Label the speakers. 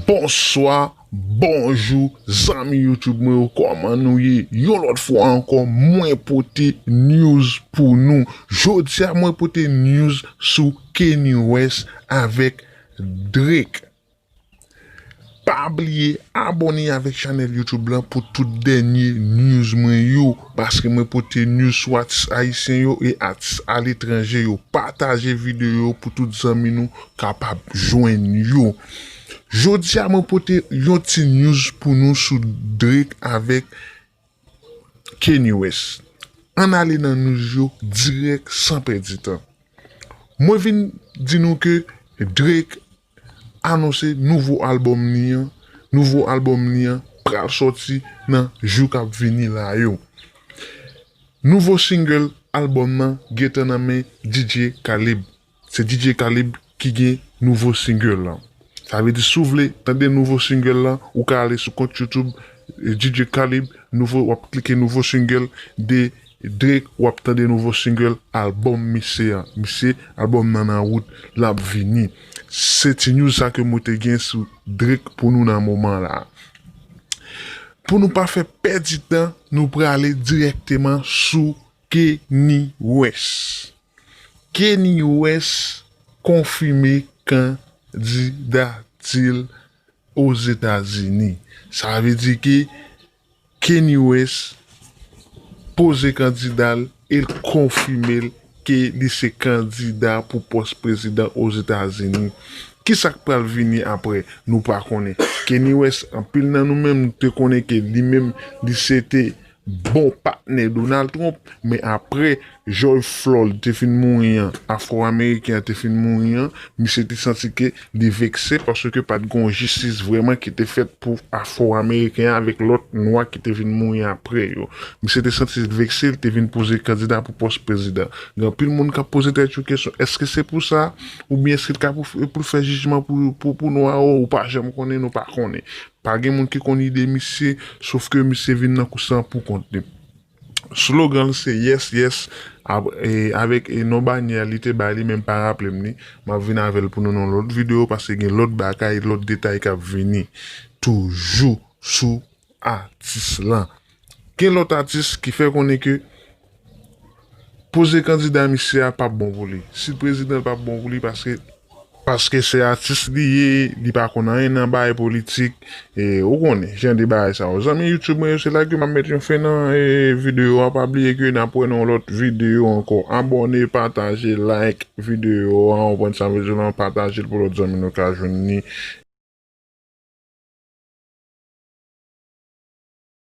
Speaker 1: Bonswa, bonjou, zanmi YouTube mwen yo kòman nou ye? Yon lòt fwa ankò mwen pote news pou nou. Jodi a mwen pote news sou Kanye West avèk Drake. Pa bliye abone avèk chanèl YouTube lan pou tout dènye news mwen yo, paske mwen pote news sou atis ayisyen yo e atis aletranje yo. Pataje videyo pou tout zanmi nou kapab jwenn yo. Jodi a mwen pote yon ti news pou nou sou Drake avèk Kanye West. Ann ale nan news yo dirèk san pèdi tan. Mwen vin di nou ke Drake anonse nouvo album li an, nouvo album li an pral sòti nan jou kap vini la yo. Nouvo single album nan gentan nan men DJ Khalib. Se DJ Kalib ki gen nouvo single lan. Sa vle di si w vle tande nouvo single lan, ou ka ale sou kont YouTube DJ Kalib, nouvo w ap klike nouvo single de Drake, w ap tande nouvo single album misye an. Misye album nan nan wout, l ap vini. Se ti news sa ke mwen te gen sou Drake pou nou nan moman la. Pou nou pa fè pèdi tan, nou prale dirèkteman sou Kenny West. Keny West konfime kandidati l Ozetazini. Sa vle di ke Keny West poze kandida l e l konfime l ke li se kandida pou pòs prezidan Ozetazini. Ki sa k pral vini apre? Nou pa konnen. Keny West, anpil nan nou menm te konnen ke li menm li se te bon patnè Donald Trump, men aprè George Floyd te fin mouri an, afro ameriken an te fin mouri an, misye te santi ke li vekse paske pat gen yon jistis vrèman ki te fèt pou afro ameriken an avèk lòt nwa ki te vin mouri aprè yo. Misye te santi l vekse, li te vin poze kandida pou pòs prezidan. Gen anpil moun kap poze tèt yo kesyon, èske se pou sa? Oubyen èske l ka pou l fè jijman pou nwa? Ou pa janm konnen, nou pa konnen. Pa gen moun ki konn ide misye, sof ke misye vin nan kous lan pou kont li. Slogan l se Yes Yes avèk non banyè li te bay li men m pa raple m li, m ap vin avè l pou nou nan yon lòt videyo paske gen lòt bagay, lòt detay k ap vini toujou sou atis lan. Gen lòt atis ki fè konnen ke poze kandida misye a pap bon pou li. Si l prezidan l pap bon pou li paske. Paske se atis li ye, li pa konn anyen nan bagay politik. Ou konnen jan de bagay sa yo. Zanmi YouTube mwen yo se la ke map met yon fen nan video a. Pa bliye ke nap wè nan yon lòt video ankò. Abòne, pataje, like video a. Ou konprann sa m vle di w lan. Pataje l pou lòt zanmi nou ka jwenn li.